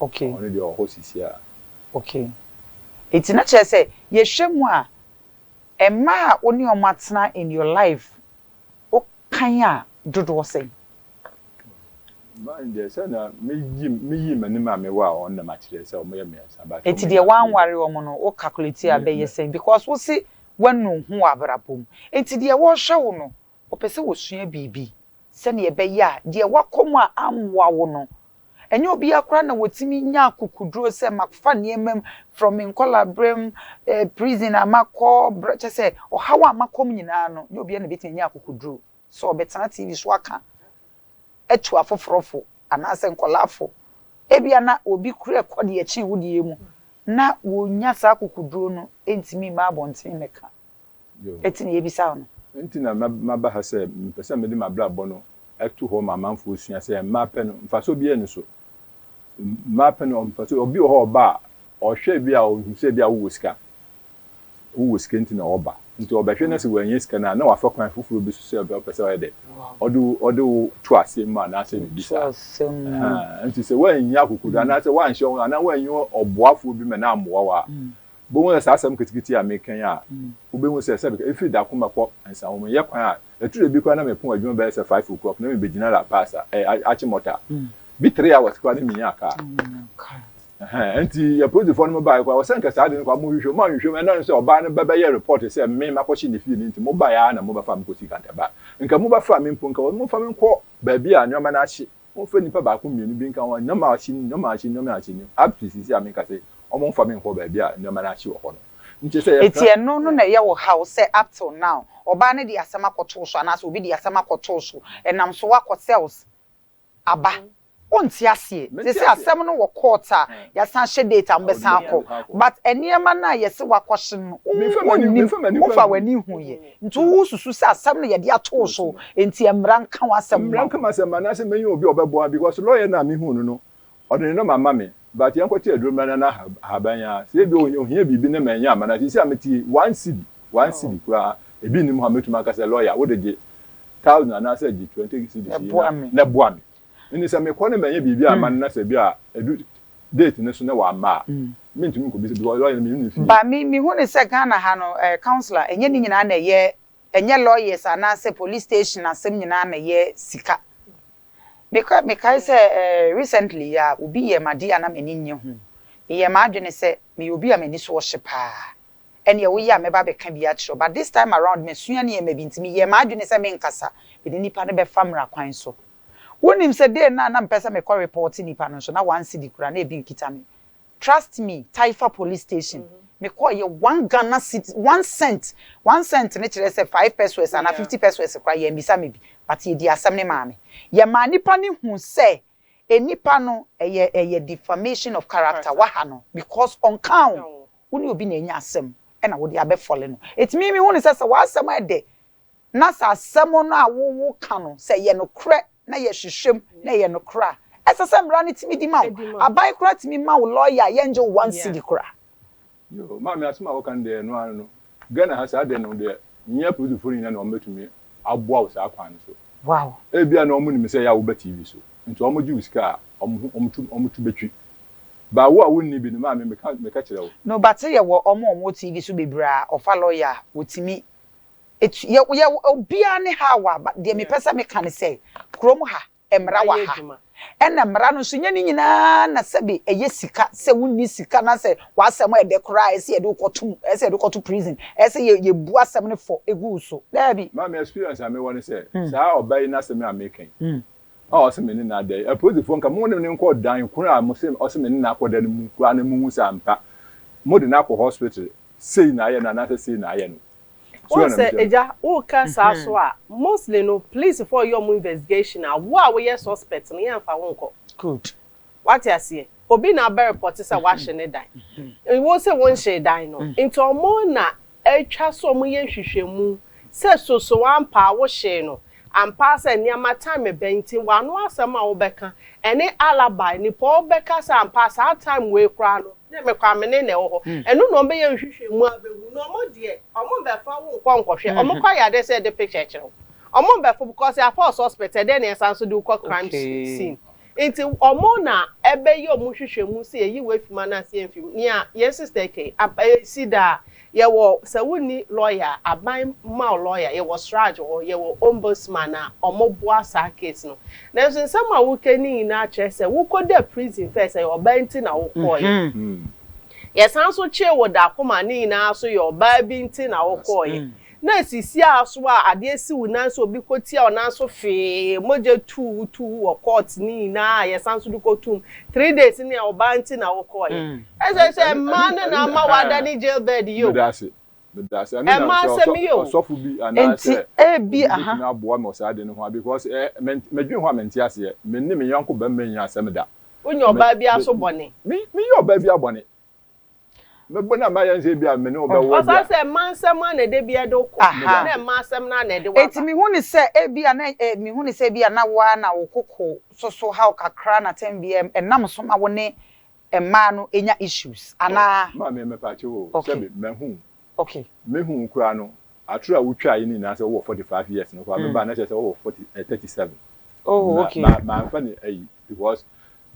Ok. Ɔno deɛ ɔwɔ hɔ sisiaa. Ok. Nti na kyerɛ sɛ yɛhwɛ mu a, mmaa a wo ne wɔn atena in your life wo kan a dodoɔ sɛn? Mmaa no deɛ sɛdeɛ meyi meyi m'anim a mewɔ a wɔn na makyerɛ sɛ wɔyɛ mmiɛnsa but wɔn Nti deɛ nyinaa firi woanware wɔn no wo calculate a Me ɛbɛyɛ me. sɛn because wo se woanu ho wɔ abrabɔ mu nti deɛ wɔhwɛ wo no Wɔpɛ sɛ wɔsua biribi sɛnea ɛbɛyɛ a deɛ woakɔ mu a ammoa wo no. Ɛnyɛ obiara koraa na wɔtumi nya akokoduro sɛ mafa nneɛma mu from me nkɔlaaberɛm, eh, prison a makɔ, berɛ, kyerɛ sɛ ɔhaw a makɔ mu nyinaa no, ɛnyɛ obiara na ɛbɛtumi anya akokoduro sɛ ɔbɛtena TV so aka atu afoforɔ fo anaasɛ nkwadaa fo. Ebia na obi kura ɛkɔ deɛ ɛkyɛn wo deɛ mu na wɔnnya saa akokoduro no ntumi mma abɔntene mmɛka. Eti nea ebisa wo no. Nti na maba ha sɛ mepɛ sɛ mede m'abrabɔ no to hɔ ma amanfoɔ sua sɛ mmaa pɛ no mfasoɔ biara nni so. Mmaa pɛ no mfasoɔ. Obi wɔ hɔ ɔba a ɔhwɛ bi a ɔhu sɛ bi a wowɔ sika. Wowɔ sika nti na ɔba. Nti ɔbɛhwɛ na sɛ wɔanya sika no a na wafa kwan foforɔ bi so sɛ ɔpɛ sɛ ɔyɛ dɛ. Ɔde ɔde wo to aseɛ mu anaasɛ biribi saa. Nti sɛ woannya akokoduro anaasɛ woanhyɛ wɔn anaa woanyi ɔboafoɔ bi ma no ammoa wo a Bohu sɛ saa asɛm nketekete yi a meka yi a wobehu sɛ sɛbe ka efi da koma kɔ nsaho mu nyɛ kwan a ɛtu da bi koraa na mepon adwuma bɛyɛ sɛ five o'clock na mebegyina La Paz a ɛyɛ Ache Mota bi three hours koraa na minyaa kaa ɛhɛn ɛnti yɛ polisifoɔ no mo baeɛ koraa wɔsɛ nka saa de no koraa mo hwehwɛ mu anhwehwɛ mu ɛnam sɛ ɔbaa no bɛbɛyɛ report sɛ me makɔhye ne fie no nti mo baeɛ ara na mo bɛfa me kɔsi Cantaba nka mo bɛfa me mpo nka wɔn mo mfa me nkɔ baabi a nneɛma no ahye Wɔmfa nnipa baako mmienu bi nka ho nneɛma a wɔahye no, nneɛma a wɔahye no, nneɛma a wɔahye no. Up to seesei a menka sɛ wɔmfa me nkɔ baabi a nneɛma no ahye wɔ hɔ no. Nkyɛ sɛ yɛka. Enti ɛno no na ɛyɛ wo haw sɛ up till now ɔbaa no de asɛm akɔtoo so anaasɛ obi de asɛm akɔtoo so, ɛnam so akɔ cells aba. Wonte aseɛ. Seesei asɛm no wɔ court a yɛasan ahyɛ date a mobɛsan akɔ. But nneɛma no a yɛse wakɔhye no, wonnim, wofa w'ani huiɛ. Nti wo susu sɛ asɛm no yɛde ato wo so nti ɛmmra nka w'asɛm mma wo? Mmra nka m'asɛm mma anaasɛ mɛnya obi a ɔbɛboa me because lawyer no a mehuu no no ɔde ne nɔma ama me but yɛnkɔte aduro mmra na na ahaban yi ara sɛ ebia ohia biribi na mannya amma no a seesei a mete yi one cedi one cedi koraa ebi nnim hɔ a mɛtumi aka sɛ lawyer wode gye thousand anaasɛ gye twenty cedis yi na boa me. Enti sɛ mekɔ na manyɛ biribi amma no na sɛ bi a ɛdu date no so na wamma a, mentumi nkɔ bisa because lɔya no mennim ne fie. Ba me me hu ne sɛ Ghana ha no eh councilor ɛnyɛ ne nyinaa na ɛyɛ ɛnyɛ lawyers anaa sɛ police station asɛm nyinaa na ɛyɛ sika. Me kɔ me kae sɛ eh recently yi ara obi yɛɛ me adeɛ a na m'ani nnye ho. Me yɛɛ m'adwene sɛ meyɛ obi a m'ani so ɔhye paa. ɛneɛ woyɛ a mɛba abɛka bi akyerɛ wo but this time around masua nneɛma bi nti meyɛɛ m'adwene sɛ menkasa mene nipa no bɛfa mmara kwan so. Wonim sɛ day no a na mepɛ sɛ mekɔ report nipa no nso na one cedi koraa na ebi nkita me. Trust me Taifa police station mekɔeɛ one Ghana citi one cent one cent no kyerɛ sɛ five pesewas anaa fifty pesewas koraa yɛammisa me bi but yɛdii asɛm no maa me. Yɛmaa nipa no huu sɛ Nnipa no ɛyɛ ɛyɛ defamation of character waha no because ɔnkaa wo wo ne obi na anya asɛm ɛna wode abɛ fɔle no enti me mehu no sɛ sɛ w'asɛm ɛdɛ na sɛ asɛm no a wo wo ka no sɛ ɛyɛ nokorɛ na yɛ hwehwɛm na ɛyɛ nokorɛ a ɛsɛ sɛ mmara no tumi di ma wo aban koraa tumi ma wo lawyer a yɛngye wo one cedi koraa. Yoo maame asem a woka no deɛ ɛno ara no Ghana ha saa deɛ no deɛ nyɛ apolisifoɔ no nyinaa na wɔn bɛtumi aboa wo saa kwan no so wow ebia na wɔn nim sɛ ɛyɛ a woba TV so nti wɔn gye wo sika a wɔn ho wɔn tu wɔn tu bɛtwi baa wo a wo nni bi no maame meka meka kyerɛ wo. No but yɛ wɔ wɔn a wɔn wɔ TV so bebree a wɔfa lawyer a wɔtumi tu yɛ yɛ obiara ne how a but deɛ mepɛ sɛ meka ne sɛ kurom ha mmara wɔ ha, ɛna mmara no nso nyɛ ne nyinaa na sɛbe ɛyɛ sika, sɛ wonni sika na sɛ w'asɛm a ɛdɛ koraa a ɛsɛ yɛde wo kɔto mu, ɛsɛ yɛde wo kɔto prison, ɛsɛ yɛ yɛbu asɛm no fɔ gu wo so. Daabi. Maame, experience a mewɔ ne sɛ, saa ɔbaa yi n'asɛm a meka yi, a ɔse me ne no ada yi, apolisifoɔ nka mo ne no nkɔ dan koro a mose ɔse me ne no akɔda no mu koraa na mohu sɛ ampa mode no akɔ hospital, sei na ayɛ no anaasɛ sei na ayɛ no. Wohu sɛ agya woka saa so a mostly no police foɔ yɛ ɔmo investigation a wo a woyɛ suspect no yɛnfa wo nkɔ. Good. Wate aseɛ? Obi na abɛ report sɛ wahye ne dan. Wo se wonhyee dan no. Nti ɔmo na atwa so ɔmo yɛ nhwehwɛmu sɛ soso ampa a wohyee no. Ampa ara sɛ nneɛma tan me bɛn nti w'ano asɛm a wobɛka ɛne alibi nipa a ɔbɛka sɛ ampa saa time wei koraa no ne me Kwame ne na ɛwɔ hɔ ɛno na ɔmbɛyɛ nhwehwɛmu abɛhu na ɔmo deɛ ɔmo mbɛfa wo nkɔ nkɔhwɛ ɔmo kɔ ayɛ adeɛ sɛ yɛde picture kyerɛ wo ɔmo mbɛfa wo because yɛafa wo suspect ɛdɛn na yɛsan so de wo kɔ crime scene Nti ɔmo na ɛbɛyɛ ɔmo nhwehwɛmu sɛ yɛyi wo afi mu anaa sɛ yɛnfi mu. Nea yɛn sister yi kɛyi, ab, esi daa. Yɛwɔ, sɛ wonni lɔya a, aban ma wo lɔya. Yɛwɔ sraj hɔ, yɛwɔ ombudsman a ɔmo boa saa case no. Nanso nsɛm a woka no nyinaa kyerɛ sɛ wokɔ da prison first, ɛyɛ ɔbaa nti na wokɔɔeɛ. Yɛsan nso kyee wo da kɔma ne nyinaa nso yɛ ɔbaa bi nti na wokɔɔeɛ. Na esisi ara so a adeɛ si wo nan so obi kɔ tia wo nan so fee mogya tuu wo tuu wo wɔ court ne nyinaa a yɛsan nso de kɔ tum three days ne a ɔbaa nti na wo kɔɔ yɛ ɛsɛ sɛ mmaa no na ama wada ne jail bed yio ɛmaa asɛm yio nti ebi aha. Wo nyɛ ɔbaa biara so bɔne. Mɛbɔ no a mayɛ no sɛ ebia me ne wo bɛwɔ deɛ a. Ɔfaa sɛ mma nsɛm a na ɛda biara de wo kɔ na mma asɛm no a na ɛde wo aba. Enti mehu no sɛ ebia na mehu no sɛ ebia na wo ara na wo koko so so haw kakra na tɛm biara ɛnam so ma wo ne mmaa no nya issues anaa. Maame mepaakyɛw o sɛbi mahu ok. Mehu wo koraa no atoro a wo twaa yi no nyinaa sɛ wowɔ forty five years no koraa me baa na kyerɛ sɛ wowɔ forty eh thirty seven oh ok na ma manfa ne ayi because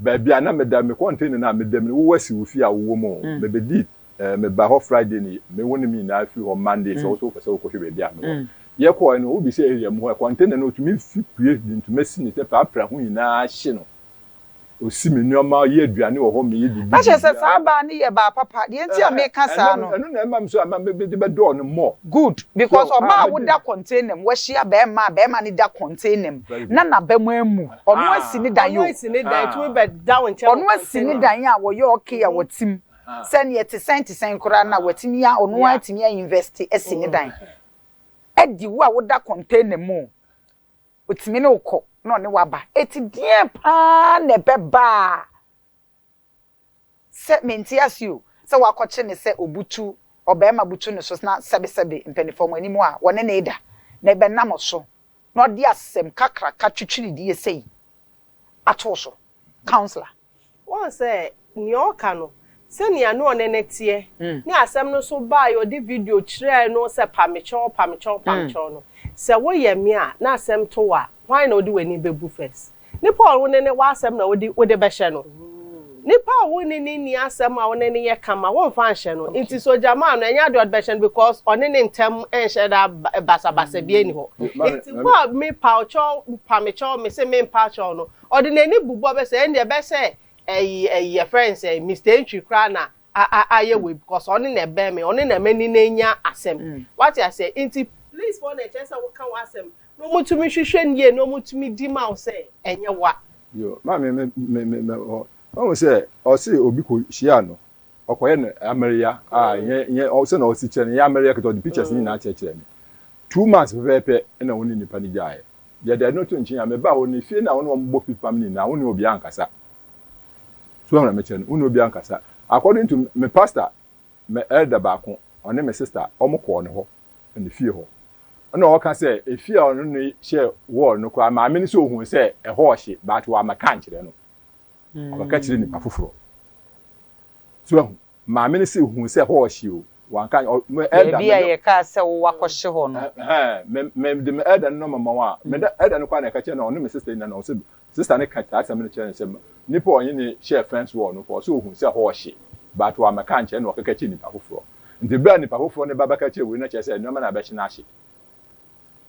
baabi a na me da me contain no a me da mu no wowɔ asi wo fie a wowɔ mu oh me bedi eh me ba hɔ Friday ni me wo ne me nyinaa firi hɔ Monday sɛ wo so wopɛ sɛ wokɔ hwɛ baabi a me wɔ yɛ kɔɛ no wo bisa area mu hɔ contain no otumi fi pue de ntoma si ne sɛ paa pra ho nyinaa hye no. Ɔsi me nnoɔma, ɔyɛ aduane wɔ hɔ, meyɛ biribi biribiara. Ɛkyerɛ sɛ saa baa no yɛ baa papa, deɛ nti a meka saa no. Ɛno na ɛma me nso ama me de bɛdɔɔ no more. Good, because ɔbaa a woda container mu, wahyia barima a barima no da container mu, na n'aba mu ammu, ɔno asi ne dan o, ɔno asi ne dan a wɔyɛ okay a wɔte mu, sɛdeɛ ɛte sɛn te sɛn koraa no a watumi a, ɔno ara atumi a invest asi ne dan, ɛde wo a woda container mu o, Otumi ne wo kɔ na ɔne wo aba. Eti deɛn paa na ɛbɛba a sɛ mente ase o, sɛ woakɔkye no sɛ obutu, ɔbarima butu ne so na sɛbesɛbe mpaninfoɔ mo anim a wɔne no reda na ɛbɛnam wo so na ɔde asɛm kakraka twitwiridie sei ato wo so? Councillor. Woahu sɛ nea ɔreka no, sɛnea ne ɔne no teɛ ne asɛm no so baa yɛ ɔde video kyerɛɛ no sɛ pa me kyɛw, pa me kyɛw, pa me kyɛw no. Sɛ woyɛ me a na asɛm to wo a, hwan na wode w'ani bɛbu first? Nipa a wo ne no wɔ asɛm na wode bɛhyɛ no? Nipa a wo ne no nni asɛm a wo ne no yɛ kama, womfa nhyɛ no. Nti sɛ ɔgyamaa no, ɛnyɛ adeɛ a wode bɛhyɛ no because ɔne ne ntam nhyɛ da basabasa biara nni hɔ. Nti wo a me pa wo kyɛw, pa me kyɛw, me se mempa kyɛw no, Ɔde n'ani bobɔ bɛ sɛ ɛndeɛ bɛ sɛ ɛyi ɛyi yɛfrɛ no sɛn Mister Antwi koraa na a a ayɛ wei because ɔne na ɛbɛn me ɔne na m'ani no anya asɛm wate aseɛ nti police foɔ na ɛkyerɛ sɛ woka w'asɛm na ɔmo tumi hwehwɛ no yie na ɔmo tumi di ma wo sɛ ɛnyɛ wa. Yo maame me me me me hɔ wahu sɛ ɔse obi kɔ hyia no ɔkɔyɛ no amereya a nyɛ nyɛ sɛ na ɔse kyerɛ no nyɛ amereya ketewa ɔde pictures no nyinaa kyerɛkyerɛ me two months pɛpɛɛpɛ na ɔne nipa no gyaeɛ Deɛ da ɛno to nkyen a, me ba, wo ne fie no a wo ne wɔn bɔ fipam no nyinaa, wo ne obiara nkasa. So woahunu mekyerɛ no? Wo ne obiara nkasa. According to me pastor, me elder baako, ɔne me sister, wɔn kɔɔ ne hɔ, ne fie hɔ. Ɛna ɔka sɛ, efie a ɔno ne hyɛ wall no koraa, maame no sɛ ohun sɛ ɛhɔ ɔhye, but wammɛka ankyerɛ no. Ɔbɛka kyerɛ nipa foforɔ. So woahunu? Maame no se ohuu sɛ hɔ ɔhye o, wanka anyɛ, ɔ, me elder Baabi a mede. yɛkaa sɛ wo wakɔhye hɔ no. Ɛhɛɛ, me, mede me elder no nɔma ma wo a, me da, elder no koraa na ɛka kyerɛɛ no a, ɔne me sister nyinaa na ɔse, sister no ka saa asɛm no kyerɛɛ no sɛ, nipa a ɔne no hyɛɛ fence wall no, ɔse ohuu sɛ hɔ ɔhye, but wammɛka ankyerɛ no, ɔkeka kyerɛɛ nipa foforɔ. Nti berɛ a nipa foforɔ no ba bɛka kyerɛɛ wei no, na kyerɛ sɛ nneɛma no a ɛbɛhye no ahye.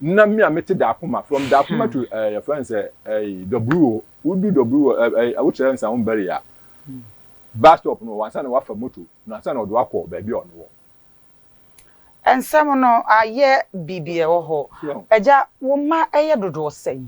na me a mete Dakoma from Dakoma to ɛɛ yɛfrɛ no sɛ ɛɛ Dɔburu o wodu Dɔburu o ɛɛ ɛɛ wokyerɛ Nsaho Mbari a bus stop no wɔ ansa na wafa moto na ansa na ɔde wakɔ baabi a ɔno wɔ. Nsɛm no ayɛ biribi ɛwɔ hɔ. Agya wo mma ɛyɛ dodoɔ sɛn?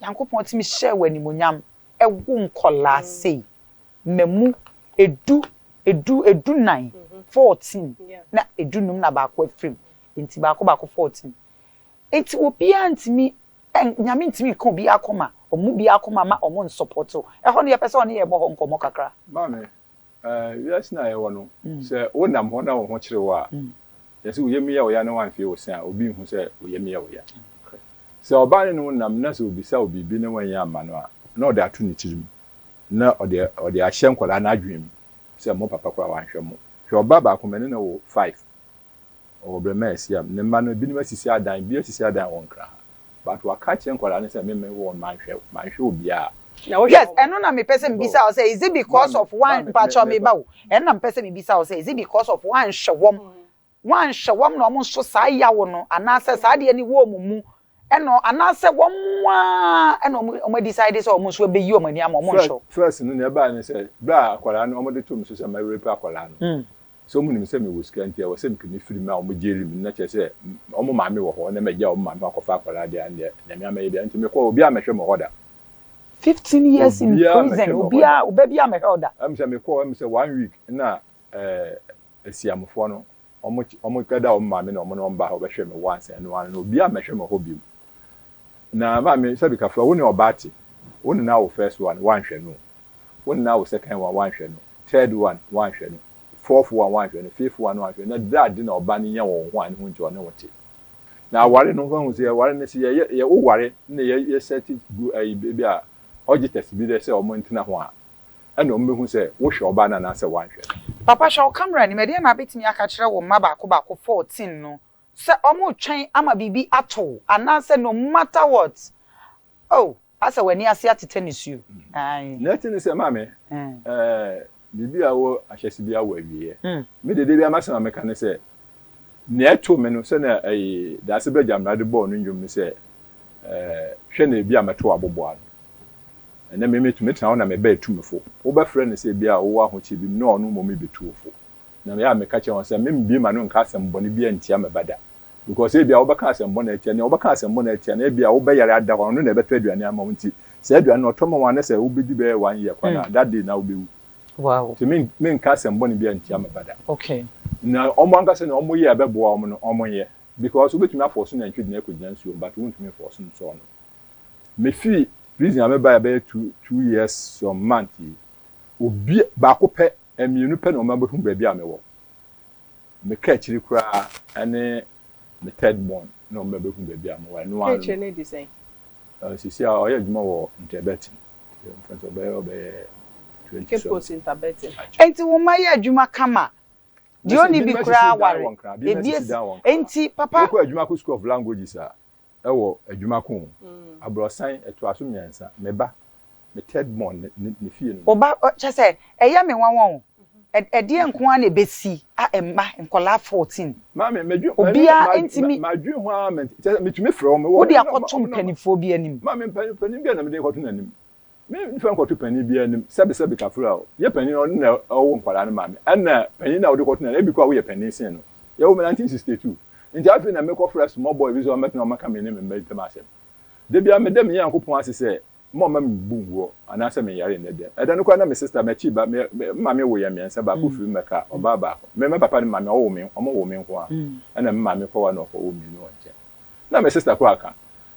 Nyankopɔn tumi hyɛɛ wo animuonyam wo nkɔlaa sei mamu ɛdu ɛdu ɛdu nan fourteen na ɛdu num na baako afirim nti baako baako fourteen nti obiara ntumi Nyame ntumi nka obiara akoma ɔmmu biara akoma ma ɔmo nsɔpɔte wo ɛhɔ no yɛpɛ sɛ ɔne yɛn bɔ hɔ nkɔmɔ kakra. Maame Wiase no a yɛwɔ no, sɛ wonam hɔ na wo ho kyere wo a, kyerɛ sɛ wo yam yɛ wo ya na woanhwee wo se a, obi nhu sɛ wo yam yɛ wo ya. Sɛ ɔbaa ne ne wo nam na sɛ obisa wo biribi na woannya amma no a, na ɔde ato ne tirim na ɔde ahyɛ nkwadaa no adwene mu sɛ mo papa koraa wanhwɛ mo. Hwɛ ɔbaa baako, me ne no wo five. ɔwɔ berɛ ma ɛsi a, ne mma no binom asisi adan, bi asisi adan wɔ Nkran ha, but waka akyerɛ nkwadaa no sɛ me me wɔn manhwɛ, manhwɛ obiara. Yes, ɛno na mepɛ sɛ mebisa wo sɛ, is it because of woan, mpakyɛw me ba o, ɛno na mepɛ sɛ mebisa wo sɛ, is it because of woanhwɛ wɔn, woanhwɛ wɔn na wɔn nso saa yaw no, anaasɛ saa adeɛ no wɔ wɔn mu ɛno anaasɛ wɔn ara na wɔn wɔn decide sɛ wɔn nso ɛbɛyi wɔn ani ama wɔn nso. First no nea ɛbaeɛ ne sɛ berɛ a akwadaa no wɔde too me so sɛ ma rape akwadaa no hmm. sɛ wɔn nim sɛ mewɔ sika nti ɛwɔ sɛ mekame firi mu a wɔn gyeli me na kyerɛ sɛ wɔn maame wɔ hɔ na magya wɔn maame akɔfa akwadaa deɛ deɛ nyame ama yɛ bia nti mekɔ obiara mɛhwɛ me hɔ da. Fifteen years in prison obiara oba biara mɛhwɛ ɔda. Ɛmu sɛ mekɔ ɛmu sɛ one week na ɛɛ eh, asiamufoɔ no Wɔn wɔkɛda wɔn maame na wɔn ne wɔn ba hɔ bɛhwɛ me once and ɛno ara no obiara mmɛhwɛ me hɔ bio na maame sɛbi kafra wo ne ɔbaa te wo ne no awo first one woanhwɛ no wo ne no awo second one woanhwɛ no third one woanhwɛ no fourth one woanhwɛ no fifth one woanhwɛ no na dɛ ade na ɔba no nya wɔ wo ho a ne ho nti ɔne wo te na aware no wahu sɛ aware no sɛ yɛ woware na yɛ yɛ set gu ayi bi a ɔgye tɛsi bi dɛ sɛ wɔn ntena ho a ɛnna wɔbɛhu sɛ wohwɛ ɔbaa no anaasɛ woanhwɛ no. Papa hwɛ wo camera anim, ɛdeɛn na wobɛtumi aka akyerɛ wo mma baako baako, fourteen, no sɛ wɔretwɛn ama biribi ato wo anaasɛ no matter what, oh, asɛ w'ani ase atetɛ nisuo, ae. Nea ɛte ne sɛ, Maame, ɛɛ, biribiara wɔ ahyɛse biara wɔ awieɛ. Me deɛ, da biara m'asɛm a meka ne sɛ, Nea ɛtoo me no, sɛnea Dase Ba Gyamena de bɔɔ no nnwom no sɛ, Hwɛ na ebia mɛto w'aboboano. Ɛnnɛ me metumi tena hɔ na mebɛyɛ tumifo. Wobɛfrɛ no sɛ ebia wowɔ ahokyere bi mu na ɔno mmom rebetu wo fo. Na ɛyɛ a meka kyerɛ wɔn sɛ memmbue m'ano nka asɛm bɔne biara ntia me ba da. Because ebia wobɛka asɛm bɔne atia nea wobɛka asɛm bɔne atia no, ebia wo ba yare ada hɔ a, ɔno na ɛbɛtɔ aduane ama wo. Nti saa aduane no ɔtɔ ma wo anaa sɛ wobedi bɛyɛ one year kwa no a, that day na wubewu. Wow. Nti me me nka asɛm bɔne biara ntia me ba da. Okay. Na wɔn ankasa nea wɔn yɛ a ɛbɛboa wɔn no wɔn nyɛ because wobɛtumi afɔɔso nantwi de no akɔgyina nsuo mu but wontumi mfɔɔso nsɔɔ no. Me firi prison a me baeɛ bɛyɛ two two years some month yi obi baako pɛ mmienu pɛ na wɔn abɛhu baabi a me wɔ. Me kaakyiri koraa ɛne me third born na wɔn bɛbɛhu baabi a mowɔ ɛno ara no. Kaakyire no adi sɛn? Sisi a ɔyɛ adwuma wɔ Nterbetting, mfɛnsɛ ɔbɛyɛ ɔbɛyɛ twenty something. Cape Coast Nterbetting. Enti wo mma yɛ adwuma kama. Deɛ ɔnni bi koraa aware. Ebi asisi dan wɔ Nkran. Enti papa. Wokɔ adwuma kɔ school of languages a, Wɔ adwuma ko o, abrɔsan ɛtoa so mmiɛnsa, me ba, me third born ne ne fie no mu. Wo ba, kyerɛ sɛ, ɛyɛ me nwanwa o, ɛdeɛn nko ara na ɛbɛsi a mma, nkwadaa fourteen. Maame, madwi, ma, madwi ho ara, kyerɛ sɛ, metumi frɛ wɔn, mewɔ. Wode akɔto mpaninfoɔ bi anim. Maame, mpanin, mpanin bi a na mede rekɔto n'anim, Me mfa nkɔto panyin biara anim sɛbi sɛbi kafra o, yɛ panyin no ɔno na ɔwo nkwadaa no maa me ɛna panyin no a wode kɔto no ebi koraa woyɛ panyin sen no, yɛwo me nineteen sixty two nti afei na mekɔ frɛ small boy bi sɛ ɔmmɛtena hɔ mmɛka me ne me mma ntam asɛm. Da biara meda me Nyankopɔn ase sɛ mma ɔmma me mbu nguɔ anaasɛ menyare nnɛ da mu. Ɛda no koraa na me sister, m'akyi ba, me maame wo yɛn mmiɛnsa baako firi Mɛka, ɔbaa baako, me me papa ne maame a ɔwo me ɔmo wo me nko ara ɛna me maame kɔwa na ɔkɔwo mmienu wɔ nkyɛn na me sister koraa ka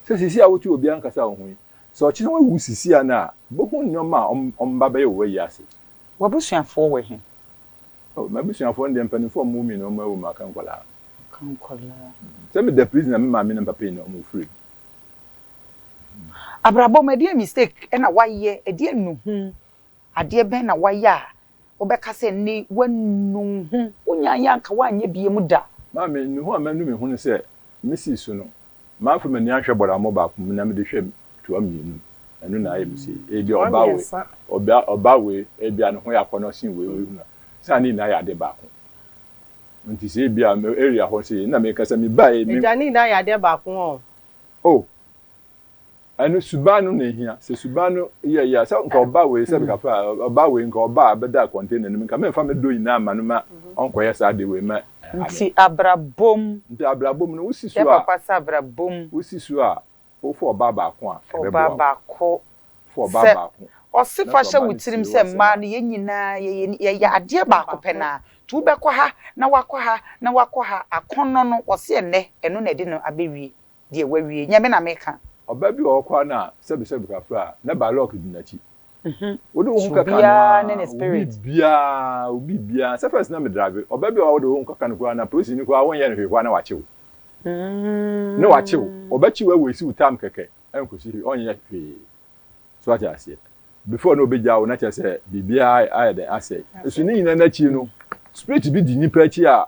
sɛ sisi a wote obiara nkasa wo ho yi, Sɛ ɔkyena woewu sisia no a, ibohu nneɛma a ɔmmba bɛyɛ wɔ w'ewiase. W'abusuafoɔ wɔ he? Oh, m'abusuafoɔ no deɛ, mpanimfoɔ a wɔwoo me no, wɔawu, maka nkwadaa. Aka nkwadaa. Sɛ meda prison a, me maame ne me papa nyinaa, wɔfiri mu. Abrabɔ mu, ɛdeɛn mistake na woayɛ? Ɛdeɛn nnuhu Adeɛ bɛn na woayɛ a wobɛka sɛ nnɛ yi woanu wo ho? Wonyaeɛ a anka woanyɛ biom da. Maa me nnuho a manu me hunu sɛ mesi so no, mafa m'ani ahwɛ bɔdamɔ baako mu na mede hwɛ toa mmienu. Ɛno na ayɛ me sei. Ebia ɔbaa wei, ɔbea, ɔbaa wei, ebia ne ho yɛ akɔnnɔ sen wei, wei hunu a, sɛ a ne nyinaa yɛ adeɛ baako. Enti sɛ ebia me area hɔ sei, ɛnna mekasa, mebaeɛ, me. Agya, ne nyinaa yɛ adeɛ baako ɔɔ. Oh, Ɛno suban no na ehia. Sɛ suban no yɛ yɛ a, sɛ nka ɔba wei sɛ bɛka fa ɔba wei nka ɔba a bɛda container no mu nka mɛmfa me dɔ nyinaa mma no ma ɔnkɔyɛ saa ade wei ma ame. Nti abrabɔ mu. Nti abrabɔ mu no wosi so a. Yɛ papa sɛ abrabɔ mu. Wosi so a wofa ɔbaa baako a ɛbɛboa wo. Fa ɔbaa baako. Fa ɔbaa baako. Ɔse fa hyɛ wo tirim sɛ mmaa no yɛn nyinaa yɛyɛ yɛyɛ adeɛ baako pɛ no ara nti wobɛkɔ ha na wakɔ ha na wakɔ ha akɔnnɔ no ɔse ɛnnɛ ɛno na ɛde no abɛwie. Deɛ wawie, Nyame na meka. Ɔbaa bi wɔ hɔ koraa no a, sɛbesɛbe kakra a, na by lock di n'akyi. Wode wo ho kɛka no ara, wo biribiara, wo biribiara. Sɛ first na me drive, ɔbaa bi wɔ hɔ a wode wo ho kɛka no koraa no a, polisini koraa wonyɛ no hwee koraa na wakye wo. Na wakye wo. Ɔbɛkye wo a waste wo time kɛkɛ ɛnkɔsi hwee, ɔnyɛ hwee. So wate aseɛ? Before na ɔbɛgyaa wo na kyerɛ sɛ biribiara ayɛ dɛn, asɛe. So ne nyinaa no akyi no, spirit bi di nnipa akyi a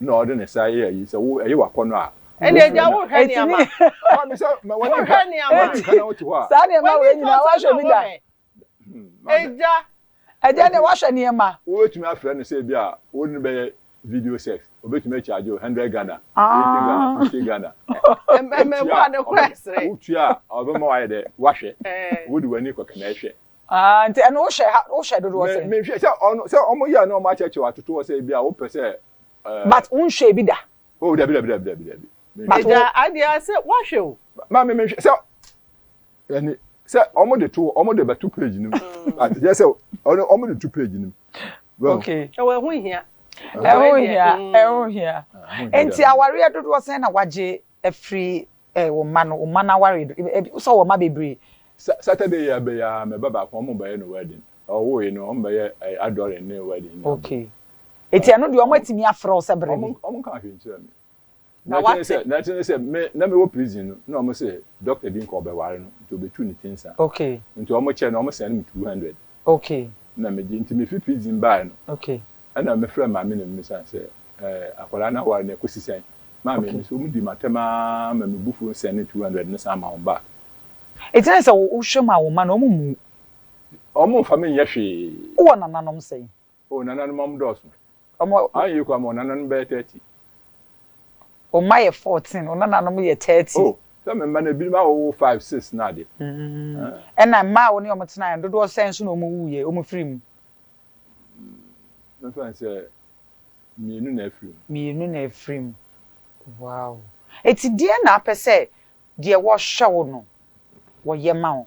na ɔde ne sa yɛ ayi sɛ wo ɛyɛ w'akɔnɔ a. Ɛnna agya wo hwɛ nneɛma. Ɛnna mi sɛ ma wɔn nka wɔn nka na wɔte hɔ a. Saa nneɛma wei nyinaa wahwɛ bi da. Agya. Agya deɛ wahwɛ nneɛma. Wobɛtumi afrɛ no sɛ ebi a wo ne bɛyɛ video sex obɛtumi akyagye wo hundred Ghana, eighty Ghana, fifty Ghana. Mmɛbɔ ade kora ɛsrɛ. Wotua a ɔbɛma wayɛ dɛ wahwɛ. Wode w'ani kɔka na ɛhwɛ. Ah nti ɛno wo hyɛ ha wo hyɛ dodoɔ sɛn. Me hwɛ sɛ ɔno sɛ ɔmo yɛ na ɔmo akyɛkyɛ atoto hɔ sɛ ebi a wopɛ sɛ ɛɛ. Eh, but wo nhwɛ ebi da. Oh dabi dabi dabi dabi dabi. Agya adeɛ ase wahwɛ o. Maame me nhwɛ sɛ ɛni sɛ ɔmo de to ɔmo de bɛ to page nim but yɛ sɛ ɔno ɔmo de to page nim. Okay. Ɛwɔ ɛho hia. Ɛho hia ɛho hia. Nti awareɛ dodoɔ sɛn na wagye Afiri eh wo mma no wo mma no aware do eh eh wosɔ wɔ mma bebree. Saturday yia bɛ yɛ aa mɛ ba baako ɔmo bɛ yɛ no wedding ɔwoo yi no ɔmo bɛ yɛ eh adoring ne wedding ne abo. Okay eti ɛno deɛ ɔmo atumi afrɛ wo sɛ brɛ me. Ɔmo nkaa hwee nkyerɛ me na ɛte ne sɛ na ɛte ne sɛ me na me wɔ prison no na ɔmo se doctor bi nka ɔbɛ ware no nti ɔbɛ tu ne ti nsa okay nti ɔmo kyɛ no ɔmo send me two hundred Okay. Nna megye ntsi mifi prison bae no. Okay. Nna mefrɛ maame na mimisa no sɛ, Eh, akwadaa no awar no ekosi sɛn? Maame, Okay. mese wɔdii m'atam ara ma me bo fuw no sɛn ne two hundred no san ma wɔn baa. Etse dɛ sɛ wohwɛ mu a wo mma no wɔn mmu wo. Wɔn mmfa me nyɛ hwee. Wowɔ nananom sɛn? O nananom ɔmo dɔɔso. Ɔmo ayɛ yie koraa ma ɔnananom bɛyɛ thirty. O mma yɛ fourteen, ɔnananom yɛ thirty. O sɛ me mma no ebinom awowo five, six no ade. Ɛna mma a wo ne ɔmo tenaeɛ no dodoɔ sɛn nso na ɔmo wuiɛ, ɔmo firi mu? Mɛfa no sɛ mmienu na afiri mu. Mmienu na afiri mu. Wow. Enti deɛn na wopɛ sɛ deɛ wɔhwɛ wo no wɔyɛ ma wo?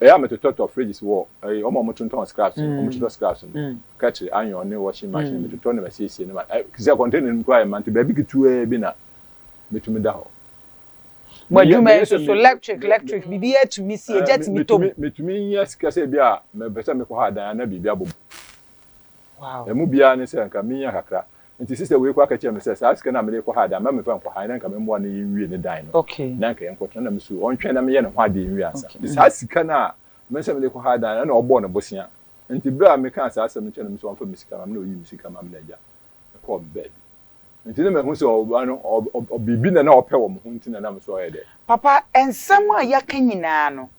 Ɛyɛ a metotɔtɔ fridges wɔ ɛyi wɔn a wɔtontɔn scraps no wɔn totɔ scraps no kɛtri iron ne washing machine metotɔ no masiesie no ma ɛ sɛ container no mu koraa yɛ ma nti baabi ketewaa bi na metumi da hɔ. Mo adwuma yi nso so electric electric biribi atumi si egya tumi tɔ mu. Metumi nya sika sɛ ebi a mepɛ sɛ mekɔ ha dan anaa biribi abɔ mu. Wow. Emu biara ne sɛ nka menya kakra Nti sister wei kɔ akɛkyerɛ me sɛ saa sika no a mede kɔ ha de ama me fa nkɔ ha na nka me mmoa no nwie ne dan no na nka yɛnkɔ tena na me sure ɔntwɛn na me yɛ ne ho adeɛ nwie ansa. Nti saa sika no a me sɛ mede kɔ ha dan no ɛna ɔbɔɔ no bosea nti berɛ a me kaa saa asɛm no kyerɛ no me sɛ ɔmfa me sika ma me na ɔyii me sika ma me na agya me kɔɔ me baabi nti na mahu sɛ ɔbaa no ɔ biribi na na ɔpɛ wɔ me ho nti na na me nso ɔyɛ dɛ. Papa nsɛm a yɛaka nyinaa no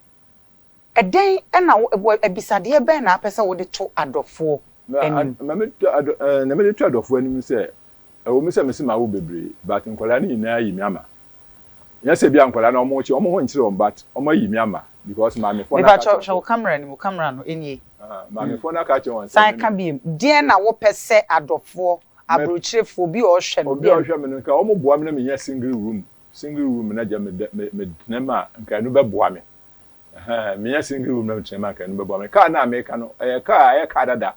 Ɛdɛn na wo, wɔ, abisadeɛ bɛn na wopɛ sɛ wode to adɔfoɔ Na, anim? na me to adɔ, eh, na mede to adɔfoɔ anim sɛ, ɛwɔ mu sɛ mese mawo bebree, but nkwadaa no nyinaa ayi me ama. Nyɛ sɛ ebia nkwadaa no wɔkye wɔn ho nkyere wɔn, but wɔayi me ama, because maamefoɔ no aka Mepakyɛw, akyerɛ hwɛ wɔn wo sɛ, camera no mu, camera no, ɛnie. aha, maamefoɔ no aka akyerɛ wɔn sɛ, San me ka no. biom, deɛn na wopɛ sɛ adɔfoɔ, Mɛ, abrokyerefoɔ, obi a ɔhwɛ no, obi a deɛn? ɔhwɛ me no, nka wɔboa me na menya single room, single room na gya me, me, me, me tena mu a, nka ɛno bɛboa me. Ɛhɛɛ, menya single room na mekyena mu a anka ɛno bɛboa me. Kaa no a meka no, ɛyɛ kaa a ɛyɛ kaa dada.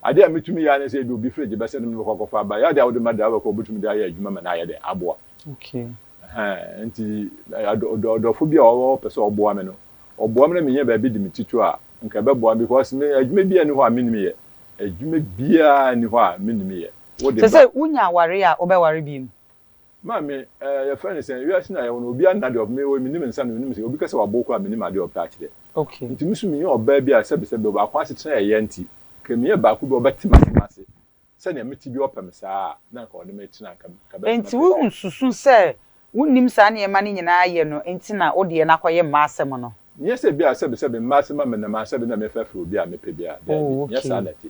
Ade a metumi yɛ ara ne sɛ ebia obi fridge bɛsɛ no mɛkɔ akɔfa aba. Ɛyɛ ade a wode ma driver kɔ a obetumi de ayɛ adwuma ma no ayɛ dɛ, aboa. Ɛhɛɛ, enti ɔdɔfo bi a ɔpɛ sɛ ɔboa me no, ɔboa me na menya baabi de me ti to a, anka ɛbɛboa me because me, adwuma biara nni hɔ a minnim yɛ. Adwuma biara nni hɔ a minnim yɛ. Wode ba. Te sɛ wunya aware a wobɛware bio mu. Maame, eh, yɛfrɛ no sɛn? Wiase no a yɛwɔ no, obiara nna deɛ ɔpɛ. Me, woi, menni me nsa no, menim sɛ obi ka sɛ wabow koraa a, mennim adeɛ a ɔpɛ akyerɛ. Okay. Nti me nso menyɛ ɔbaa bi a sɛbesɛbe, ɔbaako asetena a ɛyɛ nti, ka meyɛ baako bi a ɔbɛte m'asɛm ase sɛnea mete biara, ɔpɛ me saa a, na anka ɔne me tena, anka bɛtena pɛpɛɛpɛ. Enti wonsusu sɛ wonnim saa nneɛma no nyinaa yɛ no nti na wo deɛ no akɔyɛ mma asɛm no? Nyɛ sɛ ebia sɛbesɛbe mma asɛm a menam anaasɛ ebia na mefrɛfrɛ obi a mepɛ biara, daabi, nyɛ saa na ɛte.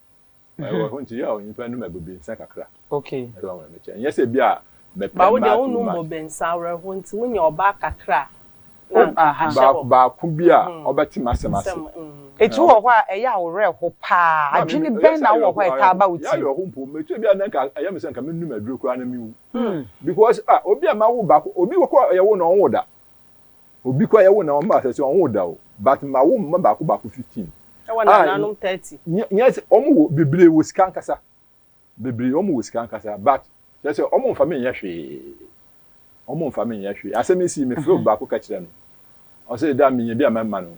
Ɛwɔ hɔ nti yɛ onyimpa nom abobinsa kakra. Okay. Ɛde wɔn wɔn kyɛ. Nyɛ sɛ bi a mɛpɛ mmaa too much. Ba wo deɛ wonnom bobinsa awerɛho nti wonyɛ ɔbaa kakra a na ahyɛ hɔ. Baako bi a ɔbɛte m'asɛm ase. Etu wɔ hɔ a ɛyɛ a wo werɛ ho paa. Adwene bɛn na wowɔ hɔ a ɛtaa ba wo tirim? Yɛ awerɛho mpo mɛtu ebi a na nka ɛyɛ me sɛ nka menom aduro koraa na mewu because ah obi a mawo baako obi wɔ kɔ yɛwo no ɔnwo da. Obi koraa yɛwo no na ɔmma asase ɔnwoo da o but mawo mma baako baako fifteen. Ɛwɔ nananom thirty. Nyɛ sɛ ɔmo wɔ bebree wɔ sika ankasa bebree ɔmo wɔ sika ankasa but kyerɛ sɛ ɔmo nfa me nyɛ hwee ɔmo nfa me nyɛ hwee asɛm yi sii me frɛ obi baako ka kyerɛ no ɔsɛ da menya bi a mɛma no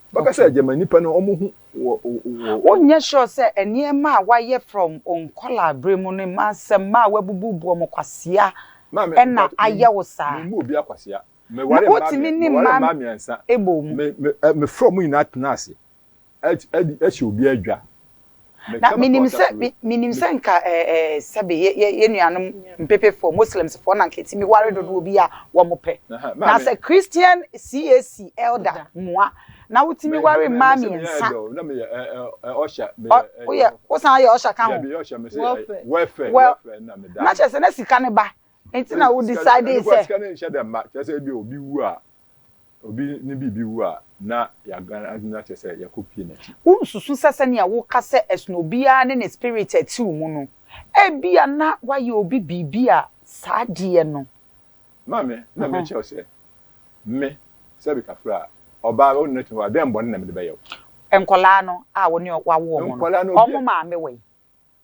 Bɛka sɛ Germani pɛ no wɔn ho wɔ wɔ. Wonyɛ sure sɛ nneɛma a wayɛ from onkɔlaa bere mu no mmaa sɛ mmaa wabubu bu wɔn kwasea ɛna ayɛ wo saa. Maame mebɔ obiara kwasea. Meware mmaa mmiɛnsa. Wotumi ne mmaa bɔ mu. Me me me frɛ wɔn nyinaa tena ase ɛhyɛ obiara dwa. Na menim sɛ, me, menim sɛ nka, ɛɛ, ɛɛ, sɛbe, yɛ, yɛ, yɛn nuanom mpepefoɔ, Muslimsfoɔ, na nka ɛtumi ware dodoɔ bi a wɔpɛ. Na sɛ Christian CAC elder mua, na wotumi ware mmaa mmiɛnsa. Ɔ, woyɛ, wosan yɛ usher ka ho? Welfare. Well, na kyerɛ sɛ na sika no ba, nti na wo decide sɛ. obi ne biribi wu a, na yɛadan adwene no akyerɛ sɛ yɛakɔpue n'akyi. Wonsusu sɛ sɛnea woka sɛ ɛsono obiara ne ne spirit a ɛte wo mu no, ebia na woayɛ obi biribi a saa adeɛ no. Maame, na merekyerɛ wo sɛ me, Selby Kafra, ɔbaa bɛ, wo ne no te hɔ a, dɛn bɔne na mede bɛyɛ wo? Nkwadaa no a wo ne wɔawo wɔn no, wɔn maame wɔ he?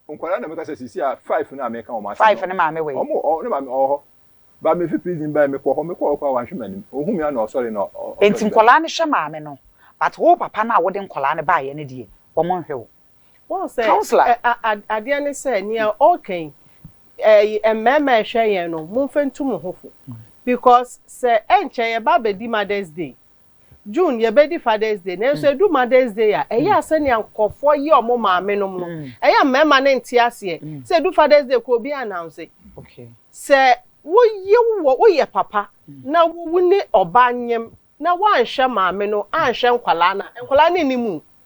Nkwadaa na meka sɛ sisi a five na meka wɔn asɛm. Five ne maame wɔ yi. Wɔn wɔ ne maame ɔwɔ hɔ. Ba mi fi prison ba yi mekɔ hɔ mekɔ hɔ kɔ a wanhwɛ m'anim. Ohun mi a na ɔsɔre na ɔsɔre bɛn. Nti nkwadaa no hwɛ maame no but wo papa no a wode nkwadaa no baayɛ no deɛ wɔn nhwɛ wo. Wohu sɛ Councillor. adeɛ ne sɛ nea ɔreka yi ɛɛ mmarima a ɛhwɛ yɛn no monfa ntu mo ho fo because sɛ ɛnkyɛ yɛba abɛdi mother's day June yɛbɛdi Father's Day nanso ɛdu Mother's Day a, ɛyɛ a sɛnea nkurɔfoɔ yɛ wɔn maamenom no, ɛyɛ a mmarima no nte aseɛ. Sɛ ɛdu Father's Day koraa obiara announce. Sɛ wo yew wɔ, woyɛ papa na wo ne ɔba nyem na woanhwɛ maame no anhwɛ nkwadaa no a, nkwadaa no nnim wo.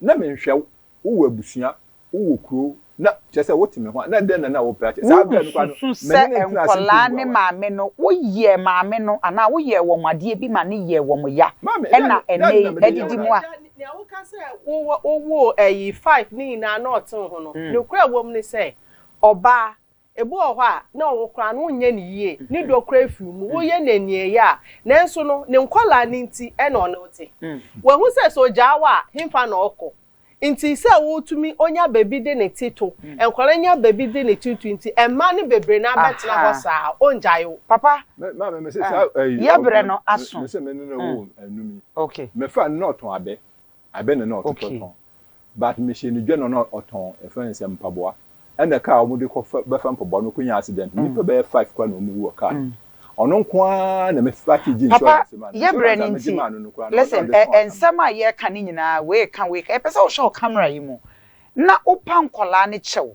na menhwɛ wo, wowɔ abusua, wowɔ kuro, na kyerɛ sɛ wote me ho a, na dɛn na na wopɛ akyɛ? Saa berɛ no koraa no, Wosusu sɛ mene no ntena ase mpo nkɔlaa mmoa ne w'ano. maame no, woyɛɛ maame no anaa woyɛɛ wɔn adeɛ bi ma no yɛɛ wɔn ya, Maame, dɛn ɛna na dɛn na ɛnnɛ yi mede yɛ adidi wɔn mu a, Agya, nea woka sɛ wowɔ wowoo ayi five no nyinaa na ɔte wo ho no, nokorɛ a ɛwɔ mu ne sɛ, ɔbaa, Ebi wɔ hɔ a, na ɔwo koraa no wonyɛ no yie, ne dɔ koraa fi wo mu, woyɛ no aniɛyaa a, nanso no, ne nkwadaa no nti na ɔne wo te. Wahu sɛ, sɛ ɔgyaa wo a, hefa na ɔkɔ? Nti sɛ wotumi ɔnya baabi de ne ti to, nkwadaa nya baabi de ne ti to nti, mma no bebree no ara bɛtena hɔ saa, ɔngyae wo. Papa, yɛbrɛ no aso. Abɛ na na ɔtotɔ Okay. tɔn but mehyɛ no dwa na na ɔtɔn yɛfrɛ no sɛ mpaboa ɛna kaa a wɔde kɔ fɛ bɛfa mpaboa no kɔnya accident no nnipa bɛyɛ five koraa na wɔwu wɔ car no mu ɔno nko ara na me starte gye Papa, insurance maa no yɛ berɛ insurance no a megye nti, maa no no koraa na ɔno na listen, ɔde ɛ, tɔn aka me nsɛm a yɛreka no nyinaa, wei ka, wei ka, yɛpɛ sɛ wohwɛ wo camera yi mu na wopa nkwadaa no kyɛw.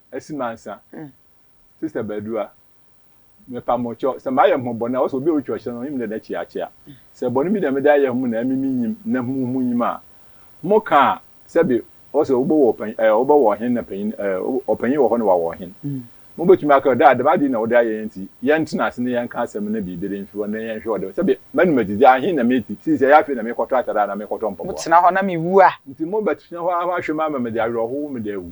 asi mansa Sister Badua mepa mo kyɛw sɛ mayɛ mo bɔne a ɔsɛ obi a ɔtwa ɔhyɛ no ɔnyim dɛ na kyea kyea sɛ bɔne bi na mede ayɛ mo na ɛme me nyim na mo mo nyim a mo ka a sɛbe ɔsɛ wobɔ wɔ ɔpanyin ɛɛ wobɔ wɔ ɔhen na panyin ɛɛ ɔpanyin wɔ hɔ na wawɔ ɔhen mo bɛtumi aka ɔda a dɛm ade na wode ayɛ yɛn nti yɛn tena ase na yɛn ka asɛm na biribi de mfi hɔ na yɛn hwɛ ɔde sɛbe manu madidi ahen na me ti sii sɛ yɛ afei na me kɔtɔ atare a na me kɔtɔ mpaboa. Mo tena hɔ na me wu a. Nti mo bɛtena hɔ ahwɛ me ama mede awerɛhow me de awu.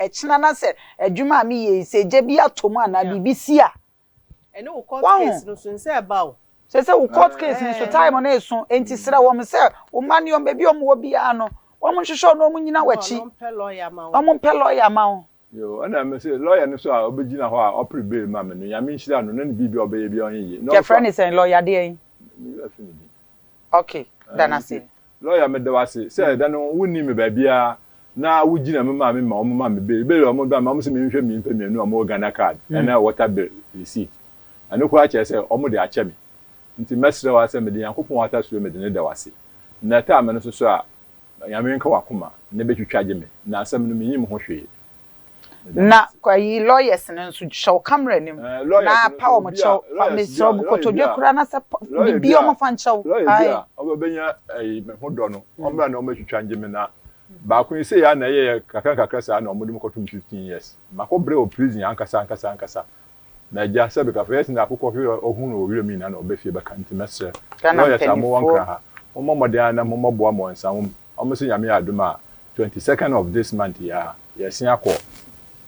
Ɛkyena na sɛ adwuma a me yɛ yi sɛ gya bi atɔ mu anaa biribi si a. Ɛne wo court case no so nsɛ ɛba o. Sɛ sɛ wo court case no so time no eso enti srɛ wɔn sɛ wo mma ne wɔn baabi a wɔn wɔ biara no wɔn nhwehwɛ wo na wɔn nyina wakyi na wɔn mpɛ lawyer ma wo. Yoo ɛna me se lawyer no so a ɔbɛgyina hɔ a ɔpere bail ma me no Nyame nhyira no na ne biribi a ɔbɛyɛ biara ɔnye ye. Yɛfrɛ ne sɛn? Lawyer deɛn? Me werɛ afi ne din. Ok da no ase. Lawyer meda wo ase sɛ da no wo nni me baabiara na wo gyina me maame ma wɔn ma me bail bail a wɔn ba me wɔn se me nhwɛ me nnipa mmienu a wɔn wɔ Ghana card ɛna water bill receipt ɛno koraa kyerɛ sɛ wɔn de akyɛ me nti mɛsrɛ wo ara sɛ mede Nyankopɔn atasuro mede no da wo ase na time no soso a Na Onyame nka w'akoma na bɛtwitwa agye me na asɛm no menyim ho hwee. Meda mo Na ase. kɔ yi lawyers no nso hyɛ wo camera no mu Eh, na lawyers no pa nso, wɔn obi a, kyɛw fa lawyers bi mesrɛ a, wo lawyer kotodwe bi a, koraa na sɛ pa lawyer bi biribi a, wɔn fa nkyɛ wo lawyer bi ae. a ɔbɛbɛnya ɛyi me ho dɔ no, ɔmmra na ɔmmɛtwitwa ngye me na baako yi sei a na ɛyɛɛ kakra nkakra saa na wɔde me kɔto mu fifteen years. Makɔ brɛ wɔ prison ankasa ankasa ankasa Na agya sɛ bɛkafo yɛ sene akokɔ hwe a ɔhu no wɔ wiram nyinaa na ɔba fie bɛka nti mɛsrɛ lawyers a mowɔ nkra ha mommɔ mmɔden ara na mommɔboa mo nsa wom ɔmo se nyame yɛ adom a twenty second of this month yi ara yɛsen akɔ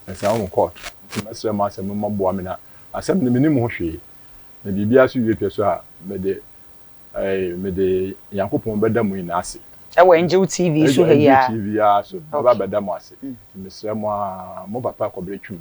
nsa wom court nti mɛsrɛ mo asɛ mommɔboa me na asɛm no menim ho hwee na biribiara so wie pɛ so a mede eh, mede Nyankopɔn bɛda mo nyinaa ase ɛwɔ Angel TV so ha yi ara. Angel TV ara so mɛba bɛda mo ase nti mesrɛ mo ara mo papa kɔbrɛ twum